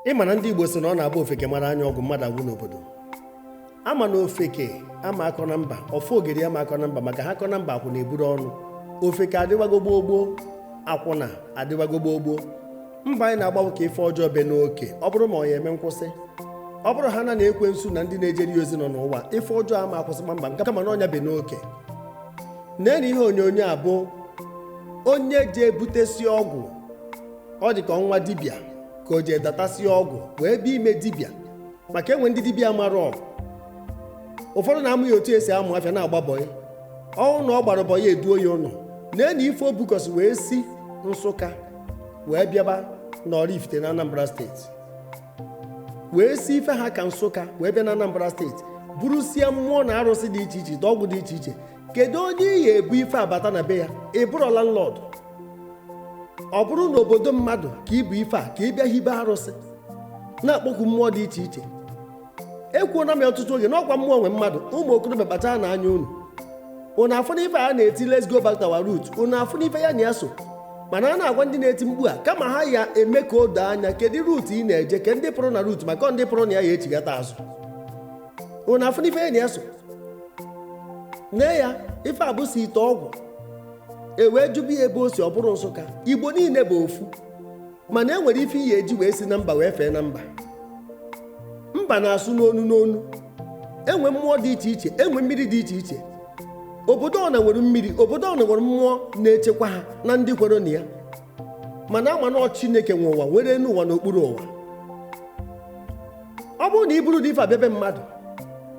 ịma na ndị Igbo sị na ọ na-abụ ofeke mara anya ọgwụ mmadụ agwụ n'obodo ama na ofeke ama akọ na mba ofogeri ama akọ na mba maka ha kọ na mba akwụna eburu ọnụ ofeke adịwago gboo gboo akwụna adịwago gboo gboo mbọ anyị na-agba wụ ka ife ọjọọ be n'oke ọ bụrụ ma ọ ya eme nkwụsị ọ bụrụ ha na na ekwensu na ndị na-ejere ya ozi nọ n'ụwa ife ọjọọ ama akwụsị kpamkpam nke kama na ọ ya ebe n'oke nene ihe onye ọna abụ onye je ebutesi ọgwụ ọ dị ka ọnwa dibịa ka o jee datasịa ọgwụ wee bịa ime dibịa maka enwe ndị dibịa mara ọgwụ ụfọdụ na-amụ ya otu esi amụ afịa na-agba bọyị ọ wụ na ọ gbara bọyị eduo ya ụlọ nene ife o bukọsị wee si nsụka wee bịaba n'Oraifite na Anambra steeti wee si ife ha ka nsụka wee bịa na Anambra steeti burusie mmụọ na arụsị dị iche iche ọgwụ dị iche iche kedu onye ị ya ebu ife a bata na be ya ị bụrọ landlord ọ bụrụ na obodo mmadụ ka i bu ife a ka ị bịa hibe arụsị na-akpọku mmụọ dị iche iche ekwuona m ya ọtụtụ oge n'ọkwa mmụọ nwe mmadụ ụmụ okorobịa kpacharanụ anya unu unu afụna ife a ha na-eti let's go back to our root unu afụna ife ya na ya so mana a na-agwa ndị na-eti mkpu a kama ha ya eme ka o doo anya kedu root ị na-eje ke ndị pụrụ na root maka ndị pụrụ na ya ya echighata azụ unu afụna ife ya na ya so nee ya ife a busi ite ọgwụ e wee jụba ya ebe o si ọ bụrụ nsụka igbo niile bụ ofu mana e nwere ife ị ya eji wee si na mba wee fee na mba mba na-asụ n'onu n'onu enwe mmụọ dị iche iche enwe mmiri dị iche iche obodo ọna nwere mmiri obodo ọna nwere mmụọ na-echekwa ha na ndị kwere na ya mana ama na chineke nwe ụwa nwere enu ụwa na okpuru ụwa ọ bụrụ na i buru ụdị ife a bịa be mmadụ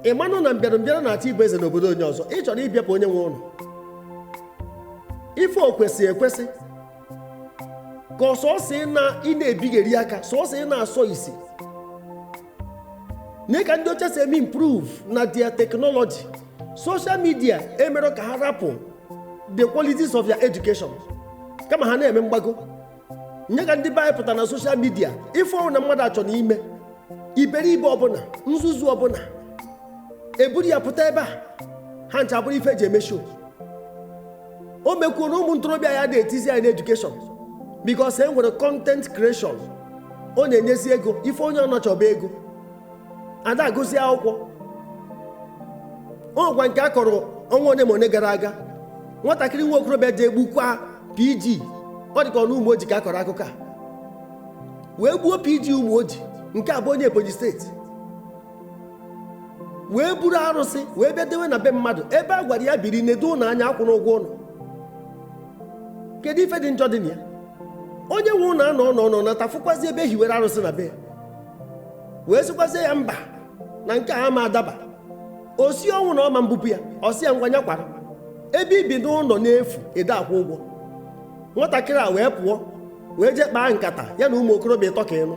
ị manụ na mbịarambịara na-achọ ịbụ eze n'obodo onye ọzọ ị chọrọ ịbịapụ onye nwe ụlọ ife o kwesị ekwesị ka ọ sọsọ ị na- ị na-ebigheri aka sọsọ ị na-asọ isi nee ka ndị ọcha si eme improve na their technology social media emerọ ka ha rapụ the qualities of their education kama ha na-eme mgbago nee ka ndị be anyị pụta na social media ife ọwụna mmadụ achọna ime iberibe ọbụna nzuzu ọbụna eburu ya pụta ebe a ha ncha abụrụ ife eji eme show o mekwuona ụmụ ntorobịa ada etizi anya na education because e nwere content creation ọ na-enyezi ego ife onye ọna chọ bụ ego ada agụzi akwụkwọ o nwekwa nke a kọrọ ọnwa one ma one gara aga nwatakịrị nwa okorobịa je egbukwa pg ọ dị ka ọ na Umuoji ka a kọrọ akụkọ a wee gbuo pg Umuoji nke a bụ onye ebonyi steeti wee buru arụsị wee bịa dewe na be mmadụ ebe a gwara ya biri nedo ụlọ anya akwụna ụgwọ ụlọ kedu ife dị njọ dị na ya onye nwe ụlọ anọ nọ nọ nata fụkwazi ebe e hiwere arụsị na be ya wee sịkwazie ya mba na nke a ama adaba ọ sị ọnwụ na ọ ma mbupụ ya ọ sị ya ngwa nya kwara ebe i bi n'ụlọ n'efu ede akwụ ụgwọ nwatakịrị a wee pụọ wee jee kpaa nkata ya na ụmụ okorobịa ịtọ ka ị nụ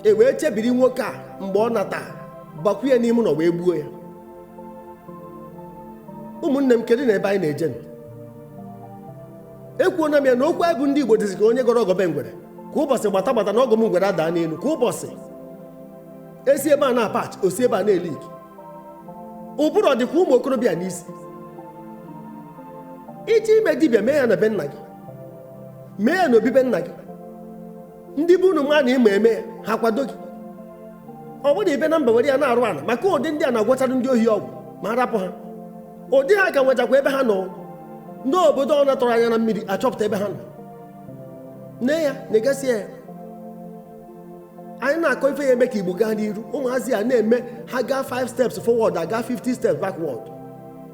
e wee chebiri nwoke a mgbe ọ nata bakwu ya n'ime ụlọ wee gbuo ya ụmụnne m kedu na ebe anyị na-eje nụ? ekwuona m ya na okwu anyị bụ ndị igbo dịzi ka onye gọrọ ọgọ be ngwere kwa ụbọchị gbata gbata na ọgọ m ngwere adaa n'elu kwa ụbọchị e si ebe a na-apatch o si ebe a na-eleak ụbụrụ ọ dịkwa ụmụ okorobịa n'isi i je ime dibịa mee ya na be nna gị mee ya na obi be nna gị ndị be unu ma na ị ma eme ya ha akwado gị ọ bụrọ ibi na mba were ya na-arụ ala maka ụdị ndị a na-agwọchara ndị ohi ọgwụ ma arapụ ha ụdị ha ka nwechakwa ebe ha nọ n'obodo ọ natọrọ anya na mmiri achọpụta ebe ha nọ nne ya na-egasi ya anyị na-akọ ife ya eme ka igbo gaa n'iru ụmụazị a na-eme ha gaa 5 steps forward agaa 50 steps backward